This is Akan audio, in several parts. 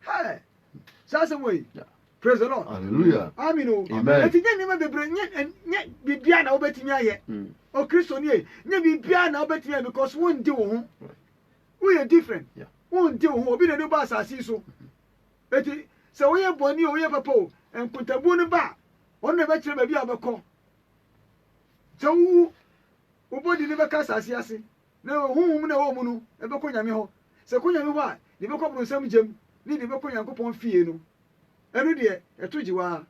Hey! Saa asɛm wɔ yi. Praise the Lord. Hallelujah. Amen o. Amen. Eti nye nneɛma bebree nye nye biribiara na wobɛtumi ayɛ. Hmm. O Kristo nie nye biribiara na wobɛtumi ayɛ because wondi wo ho. Woyɛ different. Wondi wo ho. Obi na ɛde ba asase yi so. Mm-hmm. Eti sɛ woyɛ bɔne o woyɛ papa o nkontabuo no ba a ɔno na ɛbɛkyerɛ baabi a wobɛkɔ. Sɛ wowu wobɔdi no bɛka asase ase. Na honhom no a ɛwɔ mo no bɛkɔ Nyame hɔ, sɛ ɛkɔ Nyame hɔ a, deɛ ɛbɛkɔ abronsam gyam ne deɛ ɛbɛkɔ Nyankopɔn fie no, ɛno deɛ ɛto gye wo ara.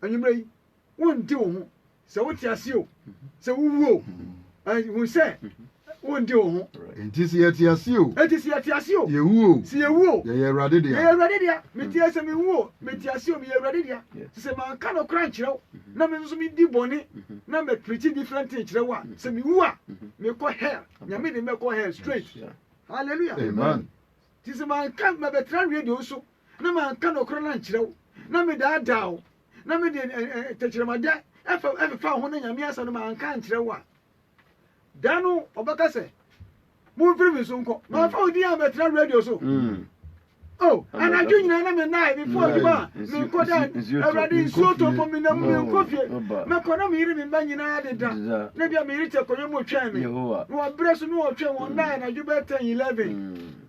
Anwummerɛ yi, wonde wo ho, sɛ wote aseɛ o, sɛ wowu o, ɛn, hu sɛ wonde wo ho. Enti sɛ yɛte aseɛ o. Enti sɛ yɛte aseɛ o. Yɛwu o. Sɛ yɛwu o. Yɛyɛ Awurade dea. Yɛyɛ Awurade dea. Mete, sɛ mewu o, mete aseɛ o, meyɛ Awurade dea. Te sɛ manka nokorɛ ankyerɛ wo. na me nso medi bɔne na mɛ preachi different thing kyerɛ wo a sɛ mewu a mekɔ hell nyame de mɛkɔ hell straight hallelujah amen nti sɛ manka mɛbɛtra radio so na manka nɔkorɛ no ankyerɛ wo na medaadaa wo na mede tɛkyerɛmadɛ ɛfefa ho na nyame asɛm no manka ankyerɛ wo a Da no ɔbɛka sɛ, Momfiri me so nkɔ. Mamfa wo din ammɛtena radio so. Oh, anadwo nyinaa na mennae mefo adwuma a menkɔ da Awurade nsuo tɔ mpo menna mu menkɔ fie mɛkɔ na meyere me mma nyinaa deda na bia meyere te akonnwa mu ɔtwɛn me na wabrɛ so na ɔtwɛn wɔn nnae anadwo bɛyɛ 10 11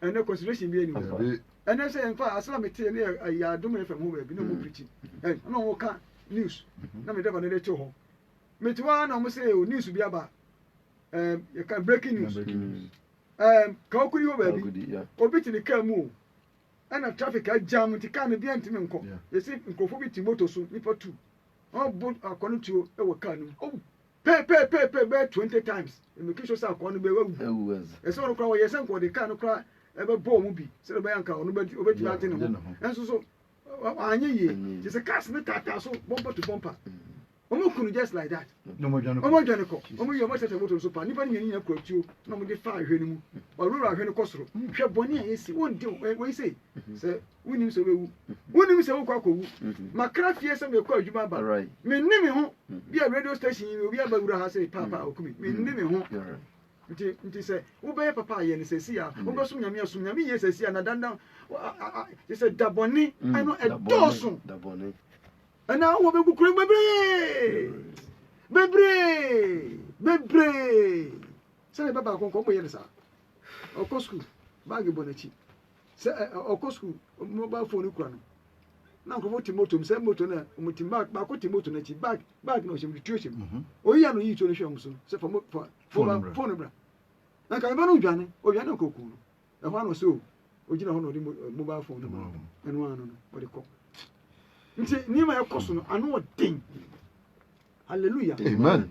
ɛnɛ consideration bi ɛni hɔ ɛnɛ sɛ yɛn fa asɛm a mi te ne yɛ ɛyɛ adum yɛ fɛm ho baabi na wɔn pirikyi ɛn na wɔn ka news na mi dɛbɔ na ɛde to hɔ mi te hɔ na wɔn sɛ o news bi aba ɛɛm yɛ ka breaking news ɛɛm ka okudi hɔ baabi obi te ne kaa mu o ɛna traffic agyam nti kaa no bi ɛntumi nkɔ yɛsi nkurɔfoɔ bi te moto so nipa tu wɔn bo akɔ no tuo ɛwɔ kaa no mu Pɛ pɛ pɛ pɛ bɛyɛ twenty times na making sure sɛ akɔa no bɛ wawu. Awu as. Ɛsɛ ɔno koraa wɔyɛ sɛ nka ɔde car no koraa ɛbɛbɔ ɔmo bi sɛdeɛ ɔbɛyɛ nka ɔno bɛ ɔbɛtumi agye ne ho. Ɛnso so anyɛ yie te sɛ cars no taataa so bumper to bumper. Ɔmo ku no just like that. Na ɔmo adwane kɔ. Ɔmo adwane kɔ. Ɔmo yɛ ɔmo sɛsɛ motor no so paa. Nnipa no mmienu nyinaa kura tuo na ɔmo de fa ahwehwɛ no mu. Ɔwura ahwehwɛ no kɔ soro. Hwɛ bɔne a yɛsi. Wɔn de wɔn wɔn yi sei sɛ. Wonnim sɛ wobɛwu. Wonnim sɛ wokɔ akɔwu. Makra fie sɛ mekɔ adwuma aba. Menne me ho. Bi a radio station yi obi aba wura ha sɛ paapa a ɔkumi. Menne me ho. Nti nti sɛ wobɛyɛ papa a yɛ no sɛsi a. Wobɛsom Nyame a som Nyame yie sɛsi a na dandan te sɛ da bɔne ɛno ɛdɔɔso. Ɛna wɔ bɛgu kuro bebree bebree bebree sɛne bɛba akɔnkɔ ɔmɔ yɛ no saa ɔkɔ sukuu baage bɔ n'akyi sɛ ɔkɔ sukuu mobile phone kura no na nkurɔfoɔ te moto mu sɛ moto no a wɔte bag baako te moto no akyi bag bag na ɔhyɛ mu tuo hyɛ mu mhm. oyi a no yi tuo no hwɛ wɔn so no sɛ fa fa fa phone bra na nka meba no dwane ɔdwane nka okuu no ɛhɔ ano sɛ o ogyina hɔ na ɔde eh, mobile phone no ma ɛno ano no ɔde kɔ nti nneɛma ɛkɔ so no ano ɔden hallelujah amen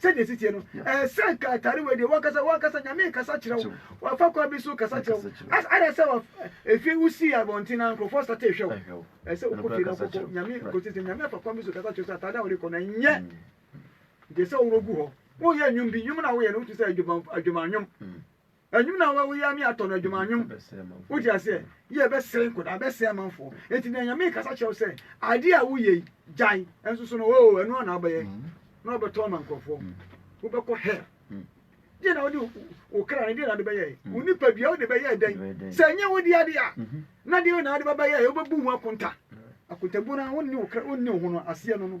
Sɛdeɛ ɛsi teɛ no, ɛɛ, sɛ nka atare wei deɛ wankasa, wankasa Nyame rekasa kyerɛ wo, wafa kwan bi so rekasa kyerɛ wo. As, ada sɛ waf, efie wosii abɔnten na nkurɔfoɔ sate rehwɛ wo. Ɛɛ, sɛ wokɔ fie na wokɔbɔ Nyame nkotee sɛ, Nyame afa kwan bi so rekasa kyerɛ wo sɛ atare a wode rekɔ no ɛnyɛ deɛ sɛ woworɔ gu hɔ. Woyɛ nnwom bi, nnwom no a woyɛ no, wotumi sɛ adwuma, adwuma nnwom. Ɛnwom na wɔ woyɛ me atɔ no adwuma nwom wote aseɛ yɛ bɛsere nkɔda bɛsɛ amanfoɔ enti na nyame kasa kyerɛw sɛ adeɛ a woyɛ yi gyae ɛnso so no oo ɛno ana abɛyɛ na ɔbɛtɔ ama nkurɔfoɔ wobɛkɔ hell deɛ na wode wo kra no deɛ na wode bɛyɛ wo nipa dua wode bɛyɛ dɛn sɛ ɛnyɛ wode adeɛ a na deɛ na wode bɛbɛyɛ wobɛbu ho akonta akontabuo no wonni wo kra wonni wo ho no aseɛ no no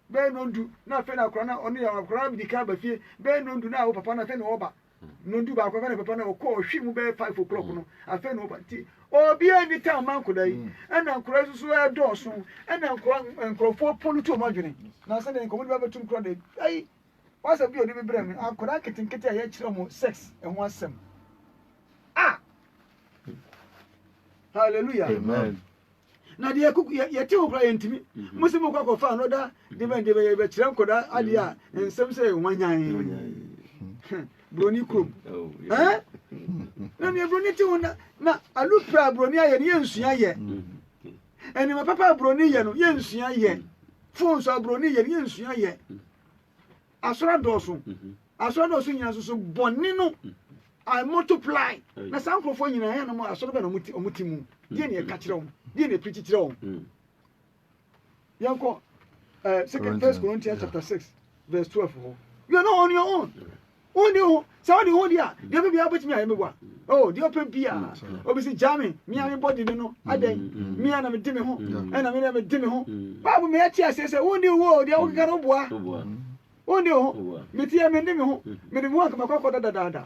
bɛyɛ nnɔndu na afei na akora na ɔno yɛ akora bi di kan ba fie bɛyɛ nnɔndu na awo papa na afei na ɔba nnɔndu baako afei na papa na ɔkɔ ɔhwi mu bɛyɛ five o'clock no afei na ɔba nti obiara ni tan ma nkora yi ɛna nkora yi soso ɛdɔɔso ɛna nkora nkorɔfoɔ polu to ɔmo adwene na sɛ deɛ nkɔmɔ de bɛbɛto mu kora de ayi wasɛ bi ɔde bi brɛ mi akora nketenkete a yɛkyerɛ ɔmo sex ɛho asɛm ah hallelujah amen. na deɛ kuku yɛ yɛte ho koraa yɛntumi mhm. mo sɛ mokɔ akɔfa anɔda de bɛn deɛ bɛyɛ bɛkyerɛ nkɔda adeɛ a mhm. nsɛm sɛ wanyan mhm. buroni kurom oh, eh? na neɛ buroni te ho na na alupɛ a buroni ayɛ no yɛnsua yɛ ɛnima papa a buroni yɛ no yɛnsua yɛ fon so a buroni yɛ no yɛnsua yɛ Asɔre adɔɔso, asɔre adɔɔso nyinaa nso so bɔne no I multiply na saa nkurɔfoɔ nyinaa yɛ nom asɔre bɛn na wɔn ti wɔn ti mu deɛ na ɛka kyerɛ wɔn deɛ na ɛpirikyi kyerɛ wɔn mm. yɛn kɔ ɛɛ eh, second first Corinthians chapter six verse twelve hɔ you are not on your own wɔn de ho Sɛ ɔde ho di a, deɛ ɔpɛ biara wobɛtumi ayɛ me wa. Oh, deɛ ɔpɛ biara. Obi si gya me, me a me bɔ didi no, adɛn? Me a na me de me ho, ɛna me na me de me ho. Baabu me ɛte aseɛ sɛ, wondi wo ho o, deɛ wokeka no woboa. Wondi wo ho, me teɛ me ndi me ho, me de me ho anka makɔ akɔda dadaada.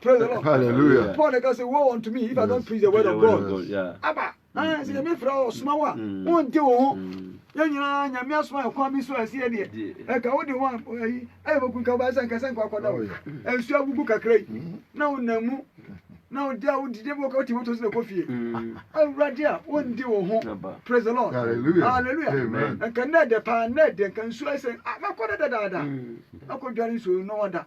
Praise the Lord. Hallelujah. Paul ɛka sɛ, woe unto me if I don't preach the word of God. Aba. Sɛ yɛbɛfira wɔ soma wo a, wonte wo ho. Yɛn nyinaa Nyame asoma yɛ kwan bi so ɛsɛ yɛ deɛ. Ɛka wode ho ayi ayɛ bɛku nka wobɛyɛ sɛ nka sɛ nkɔ akɔda wo. Nsuo agugu kakra yi na wonam mu na wode a wodidi mu kɔ ti moto so na kɔ fie. Awurade a wondi wo ho. Praise the Lord. Hallelujah. Nka nnɛ ɛdɛ paa nnɛ ɛdɛ nka nsuo ayɛ sɛ mɛkɔ dɛ dadaada. Mɛkɔ dware nsuo no wada.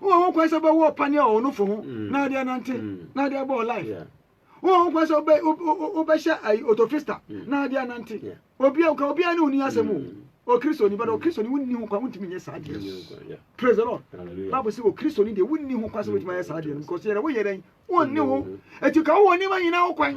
wowɔ ho kwan sɛ wobɛwɔ ɔpa ne ɔwonofo ho mm. na wode anante mm. na wode abɔ life wowɔ ho kwan sɛ wobɛhyɛ ayi otofista mm. na wode anante obia nka obia ne woni asɛm o okristoni bɛdɛ okristoni wonni ho kwan wontumi nyɛ saa deɛ praise the lord bible sɛ okristoni deɛ wonni ho kwan sɛ wotumi ayɛ saa deɛ no because yɛdɛ woyɛ dɛn wonni ho ɛti ka wowɔ nneɛma nyinaa ho kwan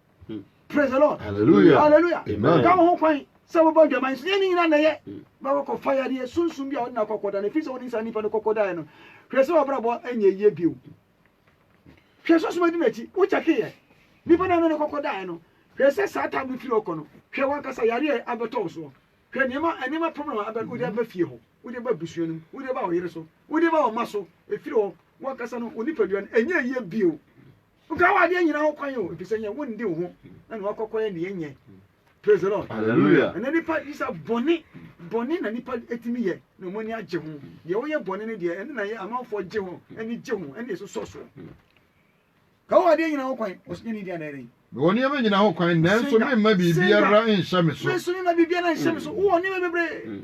praise the lord hallelujah hallelujah amen ka wo ho kwan sɛ wobɔ adwaman so yɛ ne nyina na yɛ mm. bɛkɔ kɔ fa yadeɛ sunsum bi a wode na kɔkɔ da no ɛfiri sɛ wode nsa nipa no kɔkɔ daeɛ no hwɛ sɛ wabrabɔ ɛnyɛ yie bio hwɛ sunsum adi n'akyi wokyɛkeyɛ nipa no a ne kɔkɔ daeɛ no hwɛ sɛ saa tam no firi ɔkɔ no hwɛ wankasa yareɛ abɛtɔ wo soɔ hwɛ nneɛma nneɛma problem a abɛ wode aba fie hɔ wode ba busua no mu wode ba ɔyere so wode ba ɔma so ɛfiri hɔ wankasa no wo nipadua no ɛnyɛ yie bio Woka w'adeɛ nyina ho kwan o efisɛ nyɛ wonde wo ho na ne wakɔkɔyɛ ne yɛ nyɛ praise the lord hallelujah ɛnɛ nipa bisa bɔne bɔne na nipa etimi yɛ na ɔmo ani agye ho deɛ woyɛ bɔne ne deɛ ɛne na yɛ amanfoɔ gye ho ani gye ho ɛne esosɔ soɔ ka wo adeɛ nyina ho kwan ɔsɛ nyɛ ne di anaa dɛn. Mewɔ nneɛma nyina ho kwan nanso memma biribiara nhyɛ me so. Menso memma biribiara nhyɛ me so wowɔ nneɛma bebree.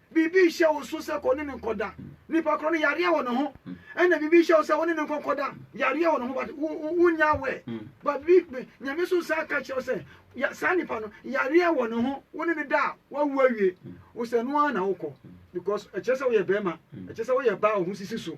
Biribi rehyɛ wo so sɛ kɔ ne no nkɔda. Nipa korɔ no yareɛ wɔ ne ho ɛna biribi rehyɛ wo sɛ wo ne no nkɔ kɔda. Yareɛ wɔ ne ho but wo nyɛ aware. But biribi Nyame so san ka kyerɛ wo sɛ saa nipa no yareɛ wɔ ne ho wo ne no da a wawu awie. Wo sɛ ɛno ara na wo kɔ because ɛkyerɛ sɛ wo yɛ bɛɛma ɛkyerɛ sɛ wo yɛ baa a wo ho sisi so.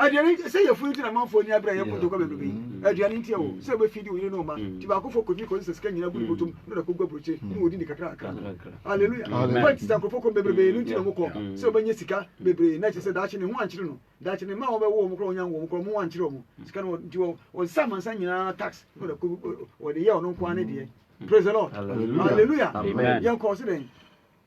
aduane nti sɛ yɛfunu nti na amanfoɔ ani abere a yɛkɔ dwogwa mɛbrɛbɛ yi aduane nti ɛwɔ sɛ wobɛfi de wo yere ne ɔma nti baakofo kɔfi kɔsi sɛ sika nyina gu ne bɔtom na ɔde akɔgu aburokye ne wɔdi ne kakra kakra no aleluya wobɛ nti sɛ nkurɔfoɔ kɔ bebrebee no nti na wɔkɔ sɛ wɔbɛnya sika bebree na kyerɛ sɛ daakye ne ho ankyere no daakye ne mma wɔbɛwo wɔn kora wɔnya wɔn kora wɔn ho ankyere wɔn sika no nti wɔnsa amansa nyinaa tax na ɔde akɔ wɔde yɛ ɔno nkoa ne deɛ praise the lord hallelujah yɛnkɔ ɔse dɛn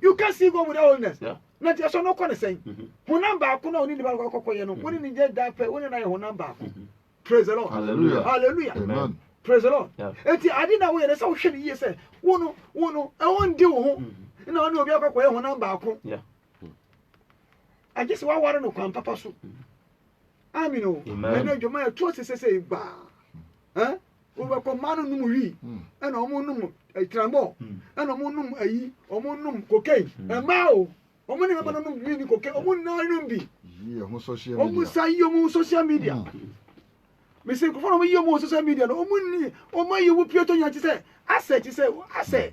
you can see God without holiness na nti ɛsɛ ɔno kɔ ne sɛn mm-hmm. honam baako na ɔne nipa kɔkɔ yɛ no wɔne ne yɛ da pɛ wɔne na yɛ honam baako mm-hmm. praise the lord hallelujah hallelujah amen praise the lord eti adi na wɔyɛ ne sɛ wɔhwɛ ne yie sɛ wɔn no wɔn no ɛwɔ ndi wɔn ho mm-hmm. na ɔne obi akɔkɔ yɛ honam baako agye sɛ wɔaware no kwan papa so amen o ɛnna adwuma yɛ to sesese gbaa ɛn. wɔbɛkɔ mmaa no nom wii ɛna wɔn nom tramɔ ɛna wɔn nom ayi wɔn nom kokain mmaa o wɔn ne mmarima no nom wii ne kokain wɔn nyinaa nom bi wɔn sa yi wɔn social media mesi nkurɔfoɔ na wɔn yi wɔn social media no wɔn ni wɔn ayi wɔn pie to nya kye sɛ asɛ kye sɛ asɛ.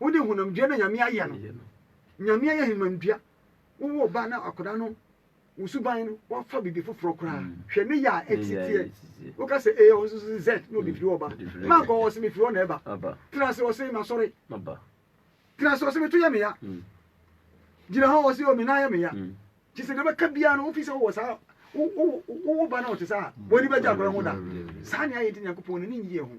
Wo de honam dua na Nyame ayɛ no. Nyame ayɛ honam dua. Wo woo ba na akɔda no wo suban no wafa bibi foforɔ koraa. Mm. Hwɛ ne yɛ a ɛtitiɛ. Wo ka sɛ A ɔno nso sɛ Z na ɔde firi hɔ ba. Ma nkɔ ɔsɛ me firi hɔ na ɛba. Tena ase ɔsɛ ma sɔre. Tena ase ɔsɛ me to yɛ me ya. Mm. Gyina hɔ ɔsɛ ɔmi nan yɛ me ya. Mm. Kyi sɛ deɛ bɛka biara no wofi sɛ wowɔ saa wo ba na ɔte saa. Wɔde bɛgye akɔda ho da. Saa ne ayɛ nti Nyankopɔn n'ani nyeɛ ho.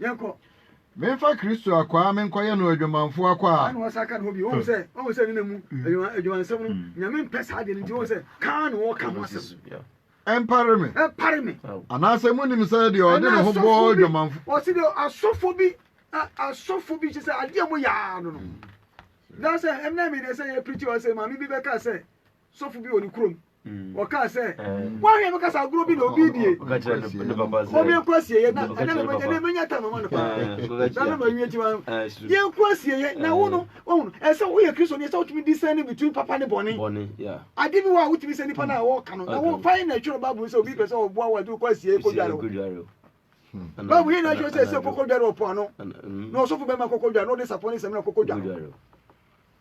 yɛnkɔ. Memfa Kristo akwaa menkɔyɛ no adwamanfoɔ akwaa. Ɛna ɔsa ka ne ho bio, ɔhu sɛ ɔhu sɛ ne na mu adwuma adwumansɛm no, Nyame mpɛ saa adeɛ no nti, ɔhu sɛ kaa na ɔka ho asɛm. Ɛmpare me. Ɛmpare me. Anaasɛ monim sɛ deɛ ɔde ne ho bɔ adwamanfoɔ. Ɔse deɛ asɔfoɔ bi asɔfoɔ bi kyɛ sɛ adeɛ a moyɛ ara no no. Daa sɛ ɛmna me deɛ sɛ yɛ preachi ɔse maame bi bɛka sɛ sɔfo bi wɔ ne kurom ɔkaa sɛ woahwɛ me kasa agorɔ bi na obi die ɔmeɛnkɔ asieɛ na ɛnɛ mɛnya ta mama no paa na no mawie nti yɛnkɔ asieɛ na wo no ɔhunu ɛsɛ woyɛ kristo ne ɛsɛ wotumi disɛne between papa ne bɔne ade bi wɔ a wotumi sɛ nipa no a wɔka no na wofa yɛ na ɛtwerɛ bible sɛ obi pɛ sɛ ɔboa wo ade wokɔ asieɛ kɔdware wo bible yɛ na ɛtwerɛ sɛ ɛsɛ kɔkɔdware ɔpo ano na ɔsɔfo bɛma kɔkɔdware na ɔde sapɔ ne sɛm na kɔkɔdware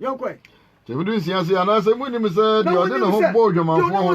yɛnkɔɛ. Sɛ mudu nsia ase anaasɛ munnim sɛ deɛ ɔde ne ho bɔ odwamanfoɔ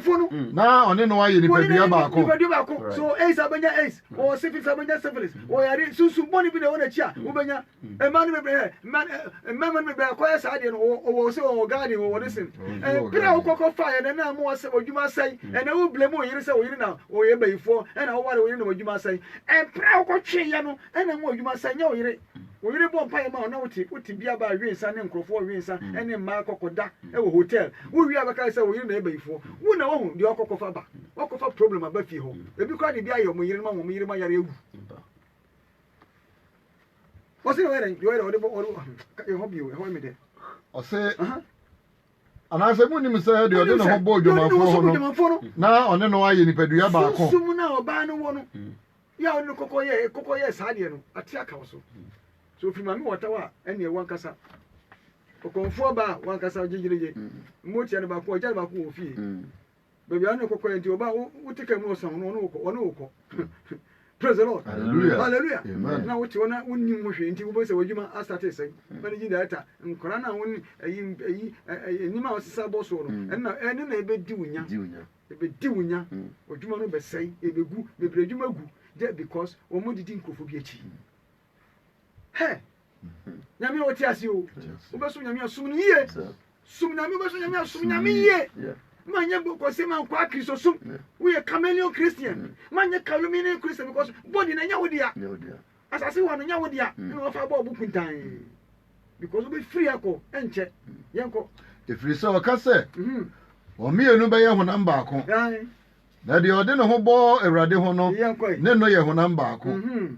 ho no mm. na ɔne no ayɛ nipadua baako nipadua baako so aids abɛnya aids mm. ɔwɔ syphilis abɛnya syphilis mm. ɔwɔ yare sunsun bɔne bi na ɛwɔ n'akyi a wobɛnya mmaa no bebree mmarima no bebree akɔyɛ saa deɛ no ɔwɔ sɛ ɔwɔ garden ɔwɔ ne sen ɛpere a wokɔkɔ fa yɛ na na mo asɛ ɔdwuma asɛe ɛna wo blame wo yere sɛ wo yere na ɔyɛ bayifoɔ ɛna woware wo yere na ɔdwuma asɛe ɛpere a wokɔtwe yɛ no ɛna mo ɔdwuma asɛe nyɛ wo yere Wo yere bɔ mpaeɛ ma wo na wote wo tebea baa we nsa ne nkurɔfoɔ we nsa ne mmaa kɔkɔda wɔ hotel. Wowie a bɛkae sɛ wo yere na ɛba yifoɔ. Wo na woahu deɛ ɔkɔ kɔfa ba. Woakɔfa problem aba fie hɔ. Ebi koraa de bi ayɛ wɔn yerenom ama wɔn yerenom ayare awu. Ɔse deɛ ɔyɛ dɛn deɛ ɔyɛ dɛn ɔde bɔ ɔde ɛhɔ bio ɛhɔ yɛ me dɛ. Ɔse. Anaasɛ munnim sɛ deɛ ɔde ne ho bɔ odwamanfoɔ ho no, na ɔne no ayɛ nipadua baako? Sunsum no a ɔbaa no wɔ no yɛ a ɔde no kɔkɔ yɛ kɔkɔ yɛɛ saa deɛ no, ate aka wo so. Sɛ ɔfiri maame wɔtaw a, ɛnneɛ wankasa ɔkɔmfoɔ baa a, wankasa gyegyeregye. Mmoa tia no baako, ɔgya no baako wɔ ofie. Baabi a na ɔkɔkɔ yɛ nti ɔba wote ka mu ɔsan ho no ɔne wokɔ ɔne wokɔ praise the lord hallelujah hallelujah amen na wote ɔna wonnim ho hwee nti wobɛhu sɛ w'adwuma asate sɛn mm. managing director nkora no a wone ayi ayi nneɛma a ɔsesa bɔ soɔ no mm. ɛno na ɛno na ɛbɛdi wo nya ɛbɛdi wo nya mm. adwuma no bɛsɛe ɛbɛgu bebree adwuma gu just because wɔn didi nkurɔfoɔ bi akyi hɛ nyame a wɔte ase o wobɛsom nyame a som no yie som nyame wobɛsom nyame a som nyame yie ma nyɛ bɔkɔsɛm a nkɔ akristo som woyɛ chameleon christian ma nyɛ calumine christian because body na nyɛ wo dea asase wɔ no nyɛ wo dea na wɔfa bɔɔ bo kuntan because wobɛfiri akɔ ɛnkyɛ yɛnkɔ ɛfiri sɛ ɔka sɛ mhm. wɔn mmienu bɛyɛ honam baako na deɛ ɔde ne ho bɔ awurade ho no ne no yɛ honam baako mhm.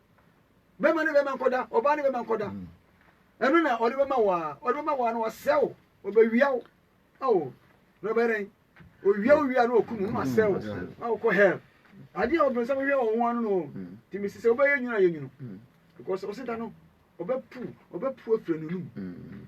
bɛma ne bɛma nkɔda ɔbaa ne bɛma nkɔda mm. ɛno na ɔde bɛma wo a ɔde bɛma wo a na wasɛ wo ɔbɛwia wo ao na ɔbɛyɛ dɛn owia owia na ɔku mu na wasɛ wo na wokɔ hell adeɛ a ɔbrɛ sɛ wohwɛ wɔn ho ano no mm. nti mesi sɛ wobɛyɛ nwunu a yɛ nwunu mm. because ɔseda no ɔbɛpu ɔbɛpu afiri no num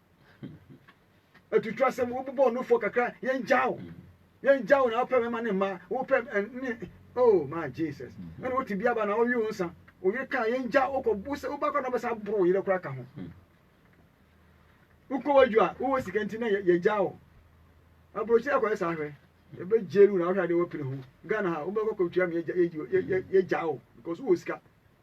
atutu asɛm wobobɔ ɔnofoɔ kakra yɛngyaw yɛngyaw na wopɛ mɛma ne mma wopɛ ne oh my jesus ɛna wote bi aba na ɔwe wo nsa oyere ka yɛngya wokɔ wosɛ woba kora na wobɛsa aboro wo yerɛ kora ka ho wokɔ wadwu a wowɔ sika nti na yɛgya wo aburokyerɛ akɔyɛ saa hwɛ yɛbɛgye lu na wohwɛ adeɛ wapene ho ghana ha wobɛkɔ kɔtua me yɛgya wo because wowɔ sika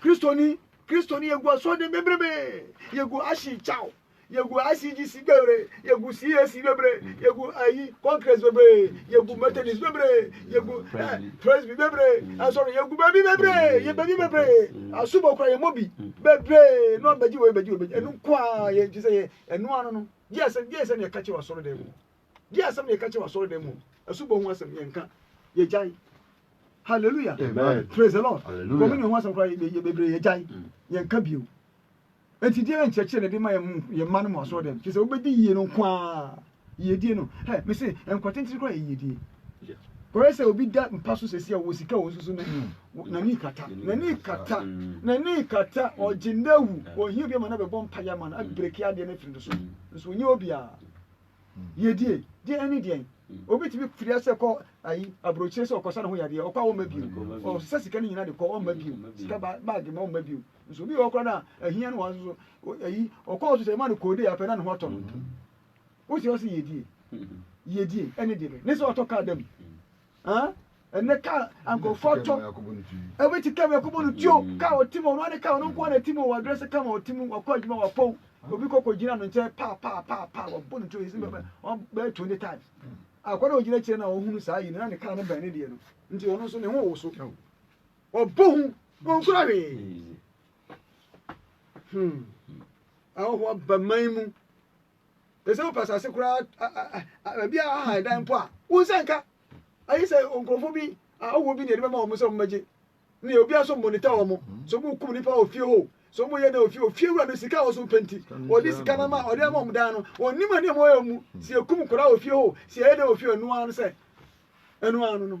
Kristoni, Kristoni yɛgu asɔrden bebrebe, yɛgu Ashin Chow, yɛgu ICGC bebree, yɛgu CAC bebree, yɛgu ayi Congress bebree, yɛgu Methodist bebree, yɛgu Presby bebree, asɔre yɛgu baabi bebree, yɛ baabi bebree, asubɔ kora yɛ mɔbi bebree, na ɔbɛgye wɔ ɛbɛgye wɔ ɛbɛgye ɛnu nko a yɛ nti sɛ yɛ ɛnu ano no, gye ɛsɛ gye ɛsɛ na yɛka kyerɛ wɔ asɔrden mu. Deɛ asɛm na yɛka kyerɛ w'asɔredan mu asubɔ ho asɛm yɛnka yɛgyae hallelujah praise the lord communion ho asɛm koraa bebree yɛgyae mm. yɛnka bio nti deɛ na nkyerɛkyerɛ na ɛde ma yɛn mma no mu asɔredan kyerɛ sɛ wobɛdi yie no nko ara yiedie no ɛ mese nkwatentene koraa yɛ yiedie kɔyɛ sɛ obi da mpa so sɛsi a wɔ sika wɔ nsusu no n'ani kata n'ani kata n'ani kata ɔgye n'awu ɔhia obi ama no bɛbɔ mpaeɛ ama no abreki adeɛ no afiri no so nso ɔnyɛ obiara yɛdie deɛ ɛne deɛn obi tumi firi ase kɔ ayi aburokyire sɛ ɔkɔsa ne ho yadeɛ ɔkɔ a ɔmma bio ɔsesa sika no nyinaa de kɔ ɔmma bio sika baage ma ɔmma bio nso obi wɔ ɔkora no a ahia no wɔn so ayi ɔkɔ ɔso sɛ ɛma no koode apɛ na ne ho atɔ no wosi ɔsi yɛdie yɛdie ɛne deɛ ne sɛ ɔtɔ kaa dam ɛnɛ ka a nkurɔfoɔ atɔ ɛbi te kama akɔbɔ no tuo ka ɔtim ɔno ane ka ɔno nkoa na tim wɔ adrɛ sɛ kama ɔtim wakɔ adwuma wapɔw obi kɔkɔ gyina no nkyɛn paa paa paa paa wabɔ no tuo yɛsi bɛbɛ ɔbɛyɛ twenty times akɔ na ɔgyina kyerɛ na ɔhunu saa yi no na ne kaa no bɛn ne deɛ no nti ɔno nso ne ho wɔ so ɔbɔ ho ɔnkura hwee hmm ahohoa ba man mu Te sɛ wopɛ asase koraa baabi a ahan dan mpo a, wo nsa nka. Ayɛ sɛ nkurɔfoɔ bi awoɔ bi na yɛde bɛma wɔn sɛ wɔmmɛgye. Ne obi aso mmonita wɔn. So wɔn kum nipa wɔ fie hɔ. So wɔn yɛ dɛ wɔ fie. Ofie wura no sika a wɔso pɛ nti, ɔde sika no ama ɔde ama wɔn dan no. Wɔn nim nneɛma wɔyɛ mu. Sɛ yɛkum koraa wɔ fie hɔ, sɛ yɛyɛ dɛ wɔ fie, ɛno ara no sɛ ɛno ara no no.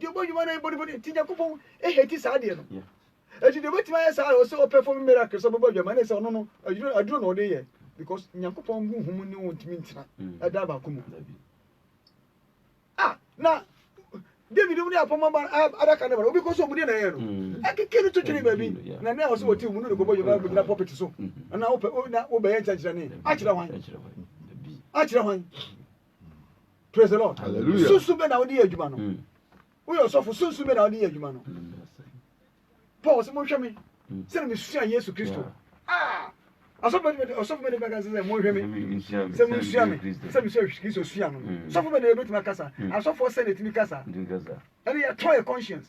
deɛ ɔbɔ nnwuma no yɛ bɔne bɔne nti nyankopɔn ɛhɛti saa deɛ no ɛti deɛ ɔbɛtumi ayɛ saa ɔsɛ ɔpɛfɔm miracle sɛ ɔbɛbɔ adwama ne sɛ ɔno no aduro na ɔde yɛ because nyankopɔn hu humu ne wɔntumi ntena mm. ɛda baako mu ah na david mu ne apɔmɔ ba adaka ne ba obi kɔ so ɔmu deɛ na ɛyɛ no mm. ɛkeke no totwene baabi na ne ɔsɛ wɔte mu no de kɔbɔ adwuma gyina pɔpɛt so mm. na wobɛyɛ nkyɛnkyerɛ ne akyerɛ hwan akyerɛ hwan praise the lord sunsun bɛ na wode yɛ adwuma no hmm. woyɛ ɔsɔfo sunsun bɛ na wode yɛ adwuma no hmm, paul sɛ monhwɛ me hmm. sɛne mesua yesu kristo ah! ɔsɔfo bɛ ne bɛka sɛ monhwɛ me sɛ monsua me sɛ mesua kristo sua no sɔfo bɛ ne yɛbɛtumi akasa asɔfoɔ sɛ ne tumi kasa ɛne yɛtɔ yɛ conscience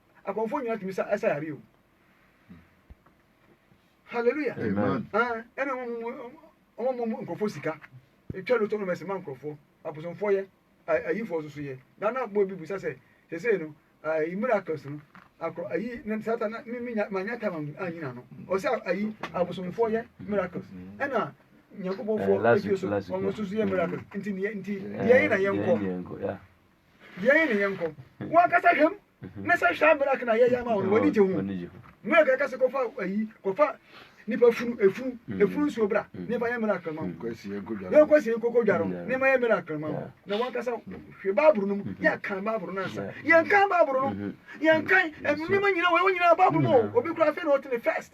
akɔmfoɔ nyina tumi sa ɛsa yare o hallelujah ɛna wɔn mu nkurɔfoɔ sika etwa lotɔ no mɛsɛn ma nkurɔfoɔ abosomfoɔ yɛ ayifoɔ soso yɛ na na bɔ bi busa sɛ sese no ayi miracles no akɔ ayi ne sata na mi mi nya ma nya tam anyina no ɔsɛ ayi abosomfoɔ yɛ miracles ɛna nyankopɔnfoɔ ɛfie so wɔn soso yɛ miracles nti nti deɛ yɛ na yɛn kɔ. Yɛn ne yɛn nkɔ. Wɔn ankasa hwɛ mu. Ne sɛ hwɛ abere aka na yɛyɛ ama wɔn wɔn ani gye ho. Mmerɛ kɛkɛ sɛ kɔfa ayi kɔfa nipa funu efunu mm. efunu nsuo bra mm. ne fa yɛ mmerɛ akrama mu. Yɛn kɔ sie koko dware ho ne ma yɛ mmerɛ akrama mu. Na wɔn ankasa hwɛ baaburo no mu mm-hmm. yɛ kan baaburo no ansa yɛn kan baaburo no mm-hmm. yɛn kan nneɛma nyinaa wɔn nyinaa baaburo no obi kura afei na ɔte ne first.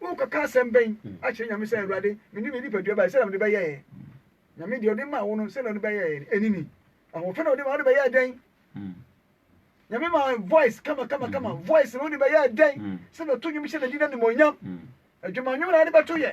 Worekɔka asɛm bɛn akyerɛ Nyame sɛ, Awurade, mede me nipadua bae, sɛdeɛ mede bɛyɛeɛ? Nyame, deɛ ɔde maa wo no, sɛdeɛ ɔde bɛyɛeɛ no, ɛnini. Ahoɔfɛ na ɔde ma, wode bɛyɛɛ dɛn? Nyame ma voice kama kama kama, voice na wode bɛyɛɛ dɛn? Sɛdeɛ ɔto nnwom hyɛ n'adi no animuonyam. Adwuma nnwom na wode bɛto yɛ.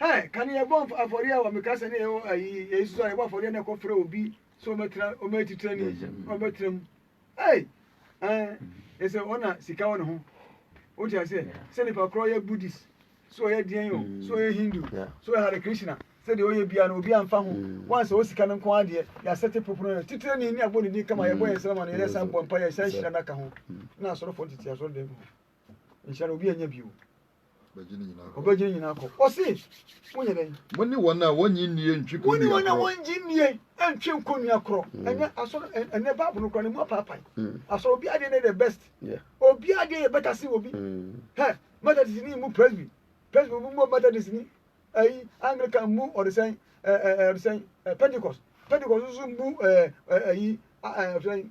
Ɛ, ka nea ɛbɔ afɔreɛ wɔ meka sɛ ne yɛ ayi yɛyi soso a yɛbɔ afɔreɛ na ɛkɔ frɛ obi sɛ ɔmɛtena ɔmɛyɛ titire ni ɔmɛtena mu ɛy ɛn ɛsɛ ɔna sika wɔ ne ho o ti aseɛ sɛ nipa korɔ yɛ buddhist sɛ ɔyɛ deɛn o sɛ ɔyɛ hindu sɛ ɔyɛ hare krishna sɛ deɛ ɔyɛ bia no obi anfa ho mm. wɔn sɛ ɔsika no nko adeɛ yɛasɛte popono no titire ni ne abɔ ne din kama yɛbɔ yɛ nsɛm ama no yɛyɛ san bɔ mpa yɛ san hyira no aka ho mm. na asɔrɔfoɔ tete asɔrɔ dɛm ho Nhyira no obi anya bio. Bɛgye ne nyinaa kɔ. Ɔbɛgye ne nyinaa kɔ. Ɔse, monyɛ dɛn? Mo ne wɔn a wɔnnye nnie ntwe konnua korɔ. Mo ne wɔn a wɔnnye nnie ntwe nkonnua korɔ. Mm. Ɛnɛ asɔre ɛnɛ baabu no korɔ ne mu apaapae. Mm. Asɔre obi adeɛ ne the best. Obi adeɛ yɛ bɛta se obi. Mm. Hɛ Methodist ni mu presby presby obi mu Methodist ni ɛyi Anglican mu ɔdesɛn ɛɛ ɔdesɛn Pentecost Pentecost nso mu ɛɛ ɛyi ɛɛ ɔdesɛn.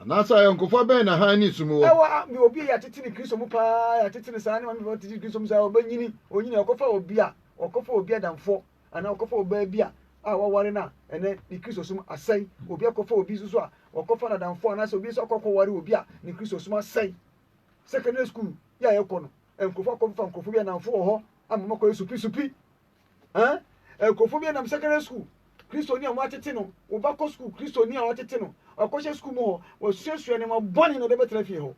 Anaasɛ ayɔnkofa bɛn na hann ne sum wɔ? Ɛwɔ a, obi a yɛatete ne Kristo mu paa, yɛatete ne saa, ne maame papa tete ne Kristo mu saa, ɔbɛnyini, onyini, ɔkɔfa obi a, ɔkɔfa obi adamfoɔ, anaa ɔkɔfa ɔbaa bi a, a waware no a, ɛnɛ ne Kristosom asɛe. Obi akɔfa obi nso so a, ɔkɔfa n'adamfoɔ, anaasɛ obi nso akɔ akɔware obi a, ne Kristosom asɛe. Secondary school yɛ a yɛkɔ no, nkurɔfoɔ akɔfa nkurɔfoɔ bi anamfo wɔ hɔ ama wɔakɔyɛ supisupi. Ɛn, nkurɔfoɔ bi nam secondary school, Kristoni a wɔatete no, wo ba kɔ sukuu, Kristoni a wɔatete no, ɔkɔhyɛ sukuu mu hɔ, wasuasua nneɛma bɔne na ɔde bɛtena fie hɔ.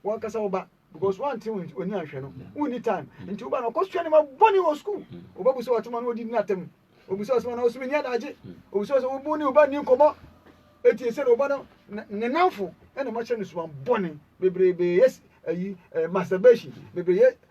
Wankasa wo ba, because woante wo ani anhwɛ no, wonni time, nti wo ba no ɔkɔsua nneɛma bɔne wɔ sukuu, wo ba bu sɛ watema na ɔde di n'atam, obu sɛ ɔsema na ɔsoma ni adagye, obu sɛ ɔsɛ wo ne wo ba nni nkɔmmɔ, eti ɛsɛ na wo ba no ne nnamfo ɛna makyerɛ no suban bɔne bebrebe, yes, ayi, eh, masturbation, bebrebe, yes,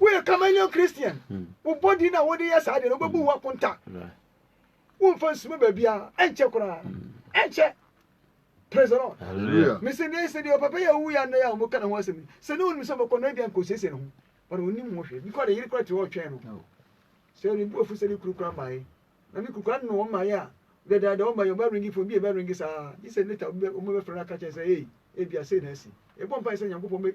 woyɛ kamanian christian hmm. wo body na wode yɛ saa deɛ no wobɛbu wo akonta womfa nsuma baabiaa ɛnkyɛ koraa hmm. ɛnkyɛ praise the lord mesɛ ne sɛ deɛ ɔpapa yɛ wowu yɛ nnɛ yɛ a wɔka ne ho asɛm sɛ ne wonim sɛ bɛkɔ no abia nkɔsiesie ne ho but ɔnim ho hwɛ bikɔ de yere kora te hɔ ɔtwɛn no oh. sɛ ne buafu sɛ ne kuru kora mmaeɛ na ne kuru kora ne wɔ mmaeɛ a dɛdɛɛdɛ ɔma yɛ ɔma ringi fo bi ɛbɛ ringi saa gye sɛ neta ɔma bɛfrɛ no aka kyɛn sɛ ei ebia sei na asi ɛbɔ mpa sɛ nyankopɔn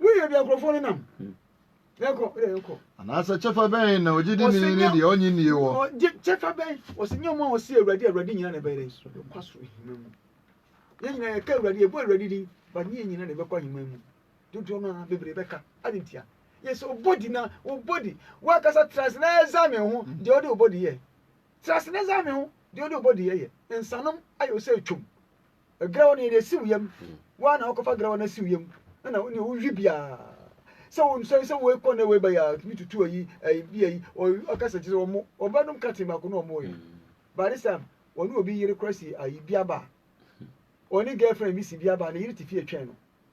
woyɛ deɛ nkurɔfoɔ no nam yɛnkɔ wodɛ yɛnkɔ anaasɛ kyɛfa bɛn na ogyidini ne deɛ ɔnye nnie wɔ kyɛfa bɛn ɔsɛ nyɛ ɔma ɔse awurade awurade nyina na ɛbɛyɛ dɛ ɛkwa soro ahima mu yɛn nyina yɛka awurade yɛbɔ awurade din ba ne yɛn nyina na ɛbɛkɔ ahima mu dodoɔ no a bebree bɛka ade ntia yɛ sɛ ɔbɔdi na ɔbɔdi woakasa trase na ɛza me ho deɛ ɔde ɔbɔdi yɛ trase na ɛza me ho deɛ ɔde ɔbɔdi yɛ yɛ nsanom ayɛ ɔsɛ atwam Grawa no yɛde asi wo yam. Woa na wokɔfa grawa no asi wo yam. Ɛna wo ne wohwi biara. Sɛ wo nsɔre sɛ woekɔ na woeba yɛ a, tumi tutu ayi, ayi bi ayi. Ɔka sɛ kyerɛ sɛ wɔn wɔbɛnom katin baako na wɔn yɛ. By this time, wɔne obi yere kora si ayi bi aba. Wɔne girlfriend bi si bi aba, ne yere te fie twɛn no.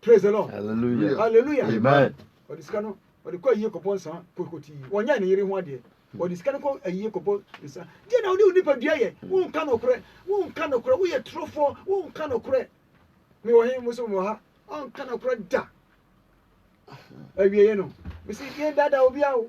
praise the lord hallelujah hallelujah amen ɔde sika no ɔde kɔ ayie kɔbɔ nsa kokoti wɔnyɛ ne yere ho adeɛ ɔde sika no kɔ ayie kɔbɔ nsa deɛ na wode wo nipadua yɛ wonka nokorɛ wonka nokorɛ woyɛ torofoɔ wonka nokorɛ mewɔ he mo so mewɔ ha ɔnka nokorɛ da awieɛ no mesi yɛn dada obi a o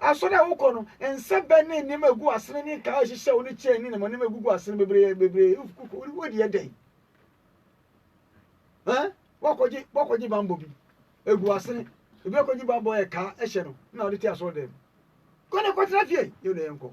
Asɔre a wokɔ no, nsa bɛn ne nneɛma a egu asene ne nkaa a ɛhyehyɛw ne kyɛn ne nneɛma nneɛma egugu asene bebree bebree wodi yɛ dɛn? Ɛn? Wakɔgye wakɔgye bambɔ bi egu asene ebi akɔgye bambɔ yɛ kaa ɛhyɛ no na ɔde te asɔre dɛm. Kɔ na kɔtena fie yɛ na yɛnkɔ.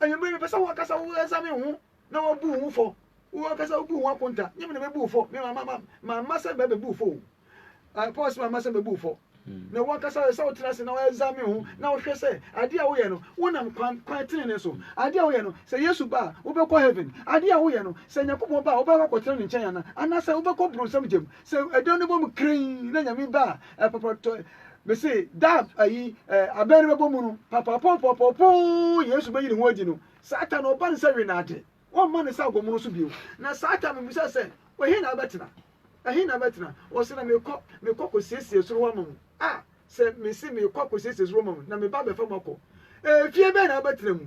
Anwummere, mepɛ sɛ wo ankasa woɛsa me ho na woabu wo ho fɔ. Wo ankasa wobu wo ho akonta. Nyɛ me na mɛbu wo fɔ. Me mamma, ma, mamma sɛ mɛbɛbu wo fɔ o. Uh, Paul se mamma sɛ mɛbu wo fɔ. Hmm. Na wo ankasa ɛsɛ wotena ase na woɛsa me ho na wohwɛ sɛ adeɛ a woyɛ no, wonam kwan, kwan tenene so. Adeɛ a woyɛ no, sɛ Yesu ba a, wobɛkɔ heaven. Adeɛ a woyɛ no, sɛ Nyankopɔn ba a, wobɛkɔ akɔtena ne nkyɛn ana, anaasɛ wobɛkɔ bronsam gyam. Sɛ ɛdɔn no bɔ mu krenn na Nyame ba a, ɛpɔpɔtɔ mese da ayi abɛn no bɛbɔ mu no papapɔpɔpɔpoo Yesu bɛyi ne ho adi no Satan na ɔba no sɛ wenade wɔmma ne sɛ agomono so bio na Satan no bisa sɛ ɛhe na abɛtena ɛhe na abɛtena ɔsɛ na mekɔ mekɔ kɔsiesie soro hɔ ama mu a sɛ mese mekɔ akɔsiesie soro ma mu na meba bɛfa mu akɔ efie bɛn na abɛtena mu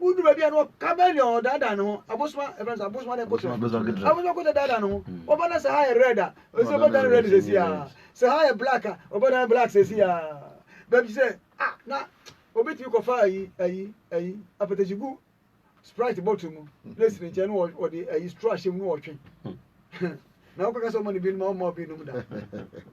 Wodu baabi a na ɔka bɛn deɛ ɔdaadaa ne ho abosoma ɛfɛn sɛ abosoma ne kotra abosoma kotra daadaa ne ho ɔba na sɛ ha yɛ red a ɔsɛ ɔbɛda ne red sɛsi a sɛ ha yɛ black a ɔbɛda ne black sɛsi a baabi sɛ ah na obi tumi kɔfa ayi ayi ayi apɛtɛsi gu sprite bottle mu na esi ne nkyɛn na ɔde ayi straw ahyɛ mu na ɔtwe na wokɔka sɛ ɔma no bi nom ɔma obi nom da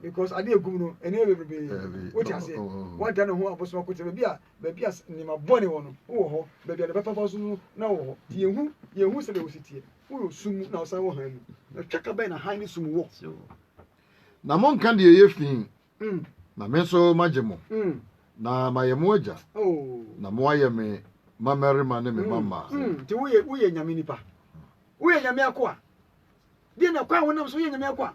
because adeɛ ɛgum no ɛne bebrebe wote aseɛ wada ne ho abosoma kotra baabi a baabi a nneɛma bɔne wɔ no, wowɔ hɔ, baabi a ne bɛpɛ fa so no na wowɔ hɔ. Nti yɛhu yɛhu sɛdeɛ wosi teɛ. Woyɛ sum mu na wosan wɔ hann mu. Na twaka bɛn na hann ne sum wɔ? Na monka deɛ ɛyɛ fi, mm. na me nso magye mo, mm. na mayɛ mo agya, oh. na moayɛ me mmarima ne me mm. mama. Mm. Nti woyɛ woyɛ nyame nipa, woyɛ nyame akoa. Deɛ na kwan wonam so woyɛ nyame akoa.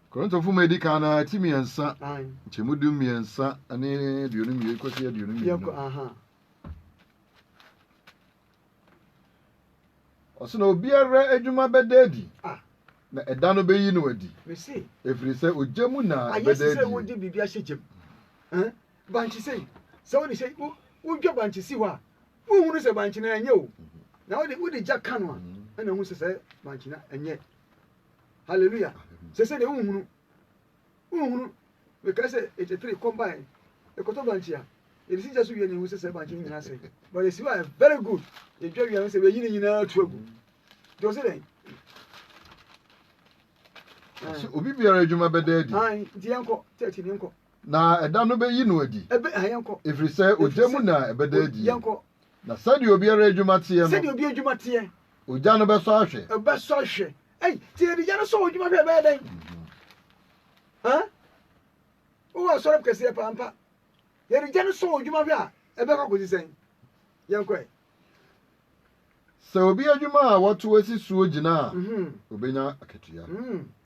Korintofo ma edi kan no ara ti mmiɛnsa, nkyɛmu du mmiɛnsa ne aduonu mmienu kɔsi aduonu mmienu. Ɔsɛ na obiara adwuma bɛda adi, ah. na ɛda no bɛyi no adi, ɛfiri sɛ ogya mu na ɛbɛda adi. sɛ wode biribi ahyɛ gyam bankye sɛ sɛ wode sɛ wodwa bankye si hɔ a wohunu sɛ bankye no ɛnyɛ o na wode wode gya ka no a ɛna hu sɛ sɛ bankye no ɛnyɛ Hallelujah. Sese de wohunu. Wohunu. Mekae sɛ 83 combine. Ekoto branch a. Yɛde si gya so wie ne yɛhu sɛ sɛ branch no nyinaa sɛ. But yɛsi hɔ a very good. Yɛdwa wie a yɛhu sɛ yɛyi ne nyinaa tu agu. Nti ɔse dɛn? Ɔse obi biara adwuma bɛda adi. Ae, nti yɛnkɔ. Church ne yɛnkɔ. Na ɛda no bɛyi no adi. Ɛbɛ, ha yɛnkɔ. Ɛfiri sɛ ogya mu na ɛbɛda adi. Yɛnkɔ. Na sɛdeɛ obiara adwuma teɛ no. Sɛdeɛ obiara adwuma teɛ. Ogya no bɛsɔ ahwɛ. Ɛbɛsɔ ahwɛ. Ɛyi, ti yɛ de gya no sɔ odwuma hwɛ ɛbɛyɛ dɛn? Ɛn? Wowɔ asɔre mu kɛseɛ paa mpa. Yɛ de gya no sɔ odwuma hwɛ a ɛbɛkɔ akɔsi sɛn? Yɛn kɔɛ. Sɛ obi adwuma a wɔto asi soɔ gyina a, obenya akatua.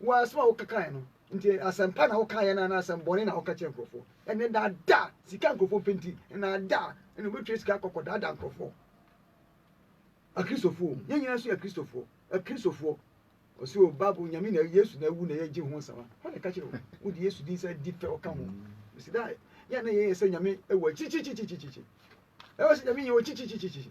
Wo asɛm a wokekae no nti, asɛmpa na wokaeɛ no anaa asɛmbɔne na woka kyerɛ nkurɔfoɔ? Ɛnɛ nnaadaa sika nkurɔfoɔ pɛ nti, nnaadaa na wobɛtwa sika akɔkɔ daadaa nkurɔfoɔ. Akristofoɔ yɛn nyinaa nso yɛ Akristofoɔ. Akristofoɔ ɔsɛ o Bible nyame na Yesu na awu na yɛgye ho nsɛm a hɔ na ɛka kyerɛ wo wode Yesu din sɛ di fɛ ɔka ho ɛsi da yɛ na yɛyɛ sɛ nyame ɛwɔ akyirikyirikyirikyirikyiri ɛwɔ sɛ nyame yɛ wɔ kyirikyirikyirikyiri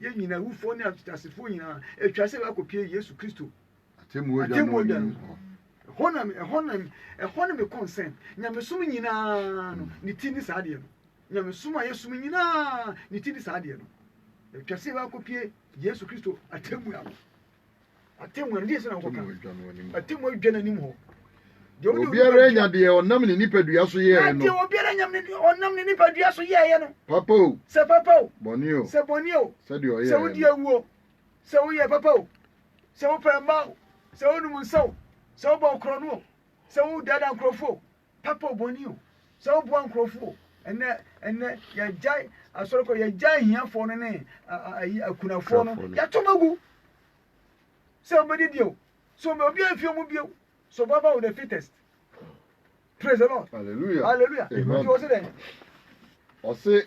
Yɛn nyinaa, awufoɔ ne ateasefoɔ nyinaa, atwa sɛ wɔakɔpie Yesu Kristo atemmuo gya no hɔ. Ɛhɔ na ɛhɔ na ɛhɔ ne me concern. Nyamesom nyinaa no ne ti ne saa deɛ no. Nyamesom a yɛsom nyinaa ne ti ne saa deɛ no. Atwa sɛ wɔakɔpie Yesu Kristo atemmuo ano. Atemmu no, gye sɛ na wokɔka atemmu adwa no anim hɔ. Obiara anya deɛ ɔnam ne nipadua so yɛɛ no. Deɛ obiara anya ɔnam ne nipadua so yɛɛ no. Papa o. Sɛ papa o. Bɔne o. Sɛ bɔne o. Sɛdeɛ ɔyɛ. Sɛ wodi awu o. Sɛ woyɛ papa o. Sɛ wopɛ mma o. Sɛ wonum nsa o. Sɛ wobɔ korɔno o. Sɛ wodaadaa nkurɔfoɔ o. Papa o bɔne o, sɛ woboa nkurɔfo o, ɛnɛ ɛnɛ yɛagyae asɔre kɔ, yɛagyae ahiafoɔ no ne ayi akunafoɔ no, yɛato ma gu sɛ wobɛdi deɛ o, sɛ obi obi amfie mu bio, survival of the fittest. Praise the Lord. Hallelujah. Hallelujah. Nti wɔ se dɛ. Ɔse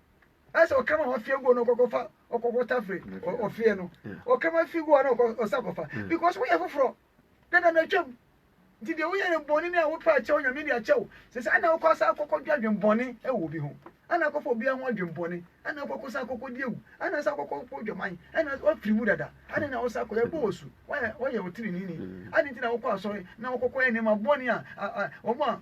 ɛsɛ ɔkama wa fie guo na ɔkɔkɔ fa ɔkɔkɔ tafere ɔfie no ɔkama fi guo na ɔkɔ ɔsa kɔfa mm. because woyɛ foforɔ dada na atwam nti deɛ woyɛ no bɔne ne a wopɛ akyɛw nyame de akyɛw sɛ sɛ ana wokɔ asa akɔkɔ dwa adwen bɔne ɛwɔ obi ho ana akɔfa obiara ho adwen bɔne ana akɔkɔ sa akɔkɔ di awu ana sa akɔkɔ kɔ dwaman ana wafiri mu dada ana na wosa akɔyɛ bɔ wɔ su woyɛ wotirinini mm. ade nti na wokɔ asɔre na wokɔkɔ yɛ nneɛma bɔne a wɔn a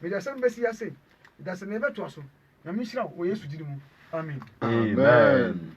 Mede asɛm bɛsi ha sei, dasani yɛbɛtoa so. Nyame nhyira wo wɔ Yesu gyidi mu. Amen. Amen.